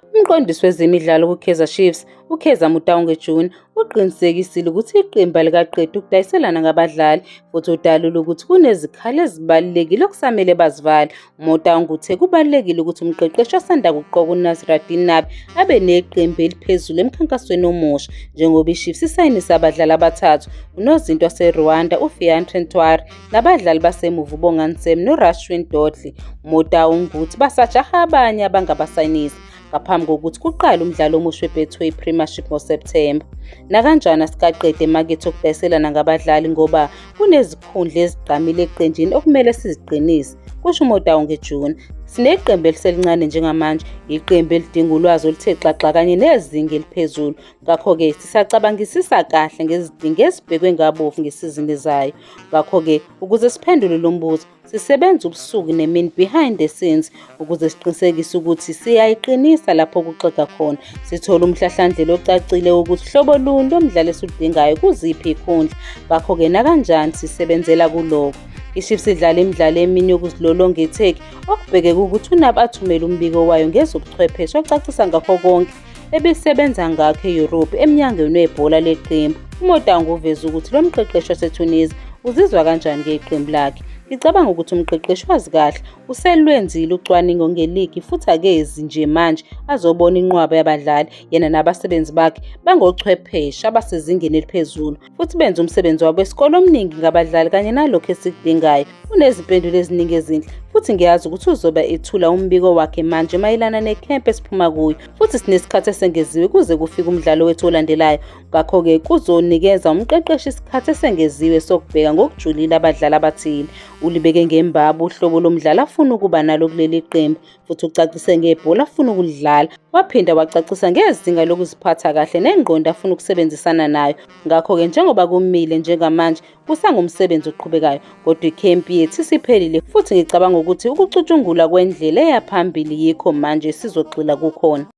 Umqondisi wezemidlalo kuKaizer Chiefs, uKheza Mutaunge June, uqinisekisile ukuthi iqembu alikaqedi ukudayiselana ngabadlali futhi udalule ukuthi kunezikhali ezibalulekile okusamele bazivale. UMutaunge uthe kubalulekile ukuthi umqeqeshi osanda kuqoka uNasruddin Nabi abe neqembu eliphezulu emkhankasweni omusha njengoba iChiefs isayinise abadlali abathathu unozinti waseRwanda uFiacre Ntwari Nabadlali basemuva uBongani Sam noRashwin Dodley, Motau Nguthi basajaha abanye abangabasayinisa ngaphambi kokuthi kuqale umdlalo omusha weBetway Premiership ngoSepthemba. Nakanjani asikaqede emakethe okudayiselana ngabadlali ngoba kunezikhundla ezigqamile eqenjini okumele siziqinise, kusho uMotawu ngeJuni. Sineqembu eliselincane njengamanje, iqembu elidinga ulwazi oluthe xaxa kanye nezinga eliphezulu. Ngakho-ke sisacabangisisa kahle ngezidingo ezibhekwe ngabovu ngesizini ezayo, Ngakho-ke, ukuze siphendule lo mbuzo, sisebenza ubusuku nemini behind the scenes ukuze siqinisekise ukuthi siyayiqinisa lapho kuxega khona. Sithola umhlahlandlela ocacile wokuthi hlobo luni lomdlalo esiludingayo kuziphi ikhundla. Ngakho-ke nakanjani sisebenzela kuloko. IChiefs idlala imidlalo emini yokuzilolonga eTurkey okubhekeke ukuthi uNabi athumele umbiko wayo ngezobuchwepheshe ocacisa ngakho konke ebisebenza ngakho e-Europe emnyangweni webhola leqembu. UMotango uveze ukuthi lo mqeqeshi waseTunisia uzizwa kanjani ngeqembu lakhe. Ngicabanga ukuthi umqeqeshi wazi kahle uselwenzile ucwaningo ngeligi futhi akezi nje manje azobona inqwaba yabadlali yena nabasebenzi bakhe bangochwepheshe abasezingeni eliphezulu. futhi benze umsebenzi wabo esikole omningi ngabadlali kanye nalokho esikudingayo unezimpendulo eziningi ezinhle futhi ngiyazi ukuthi uzoba ethula umbiko wakhe manje mayelana nekhemp esiphuma kuyo futhi sinesikhathi esengeziwe kuze kufike umdlalo wethu olandelayo ngakho-ke kuzonikeza umqeqeshi isikhathi esengeziwe sokubheka ngokujulile abadlali abathile ulibeke ngembabu uhlobo lomdlali afuna ukuba nalo kuleli qembu futhi ucacise ngebhola afuna ukulidlala waphinda wacacisa ngezinga lokuziphatha kahle nengqondo afuna ukusebenzisana nayo ngakho-ke njengoba kumile njengamanje kusangumsebenzi oqhubekayo kodwa ikhempi yethu isiphelile futhi ngicabanga ukuthi ukucutshungulwa kwendlela eyaphambili yikho manje sizogxila kukhona